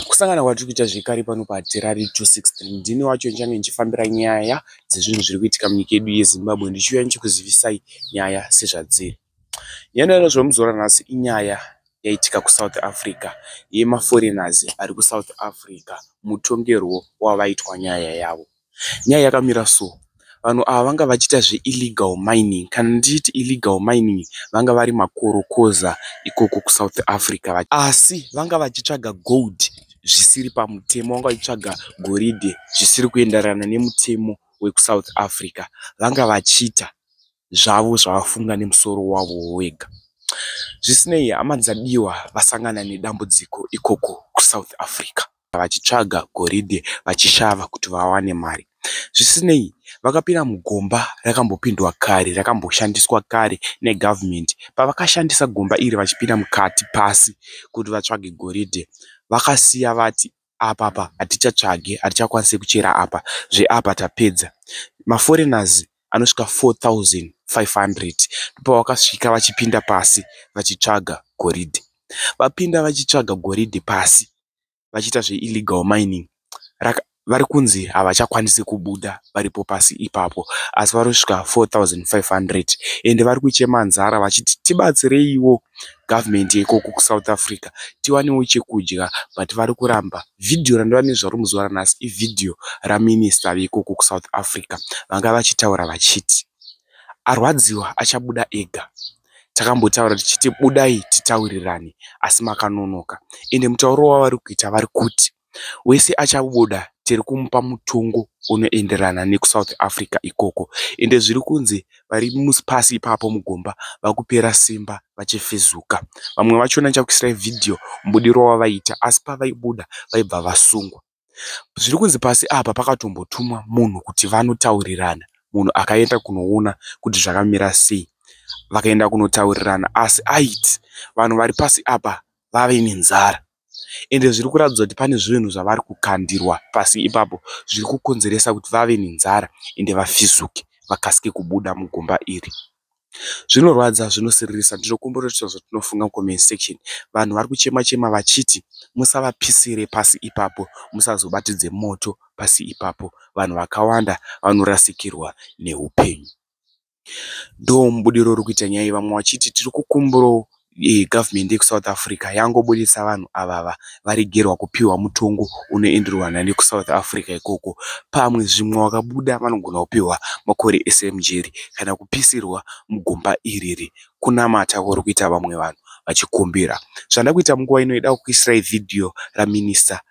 Kusangana kwatiri kuita zvekare pano paHarare 263 ndini wacho ndichange ndichifambira nyaya dzezvinhu zviri kuitika munyika yedu yeZimbabwe ndichiuya ndichikuzivisai nyaya sezvadziri. Nyaya inoda zvamuzora nhasi inyaya yaitika kuSouth Africa yemaforeigners ari kuSouth Africa mutongerwo wavaitwa nyaya yavo. Nyaya yakamira so, vanhu ava vanga vachiita zve illegal mining. Kana ndichiti illegal mining vanga vari makorokoza ikoko kuSouth Africa asi vanga vachitsvaga gold zvisiri pamutemo, vanga vachitsvaga goridhe zvisiri kuenderana nemutemo wekuSouth Africa. Vanga vachiita zvavo zvavafunga nemusoro wavo wega. Zvisinei, hama dzaDiwa vasangana nedambudziko ikoko kuSouth Africa. vachitsvaga goridhe vachishava kuti vawane mari. Zvisinei, vakapinda mugomba rakambopindwa kare, rakamboshandiswa kare negavhumende. Pavakashandisa gomba iri vachipinda mukati pasi kuti vatsvage goridhe, vakasiya vati apapa hatichatsvage, hatichakwanise kuchera apa, zveapa tapedza. Maforeigners anosvika 4500 ndopavakasvika vachipinda pasi vachitsvaga goridhe. Vapinda vachitsvaga goridhe pasi. vachiita zveillegal mining vari kunzi havachakwanisi kubuda varipo pasi ipapo asi vari kusvika 4500 ende vari kuchema nzara vachiti tibatsireiwo gavhumendi yeikoko kusouth africa tiwanewo chekudya but vari kuramba vhidhiyo randova nezva ro muzuva ranhasi ivhidhiyo raminista veikoko kusouth africa vanga vachitaura vachiti arwadziwa achabuda ega takambotaura tichiti budai titaurirane asi makanonoka ende mutauro wavari kuita vari kuti wese achabuda tiri kumupa mutongo unoenderana nekusouth africa ikoko ende zviri kunzi vari pasi ipapo mugomba vakupera simba vachifezuka vamwe vachona chakuisirai vhidhiyo mubudirwa wavaita asi pavaibuda vaibva vasungwa zviri kunzi pasi apa pakatombotumwa munhu kuti vanotaurirana munhu akaenda kunoona kuti zvakamira sei vakaenda kunotaurirana asi aiti vanhu vari pasi apa vave nenzara ende zviri kuratidza kuti pane zvinhu zvavari kukandirwa pasi ipapo zviri kukonzeresa kuti vave nenzara ende vafizuke vakasike kubuda mugomba iri. Zvinorwadza zvinosiririsa ndinokumbira kuti zvotinofunga comment section vanhu vari kuchema chema vachiti musavapisire pasi ipapo musazobatidze moto pasi ipapo vanhu vakawanda vanorasikirwa neupenyu ndomubudiriro uri kuita nyaya iyi vamwe vachiti tiri kukumbirawo eh, government yekusouth africa yangobudisa vanhu avava varegerwa kupiwa mutongo unoenderwa nani kusouth africa ikoko pamwe zvimwe wakabuda vanogona kupiwa makore ese mujeri kana kupisirwa mugomba iriri kunamata kuri kuita vamwe vanhu vachikumbira zvanda kuita munguva ino ida kukuisirai vhidhiyo raminista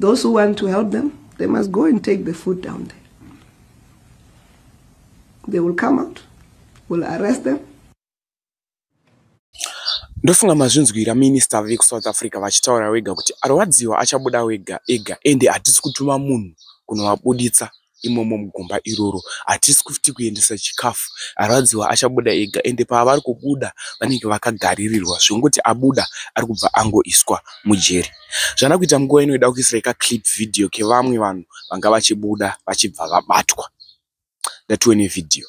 Those who want to help them, they must go and take the food down there. They will come out, will arrest them. ndofunga mazvinzwira minista vekusouth africa vachitaura wega kuti arwadziwa achabuda wega ega ende hatisi kutuma munhu kunovabuditsa imomo mugomba iroro hatisi kuti kuendesa chikafu arwadziwa achabuda ega ende paavari kubuda vanenge vakagaririrwa zvekungoti abuda ari kubva angoiswa mujeri zvana kuita nguva inoida kuisira ka clip video kevamwe vanhu vanga vachibuda vachibva vabatwa ndatiwe nevideo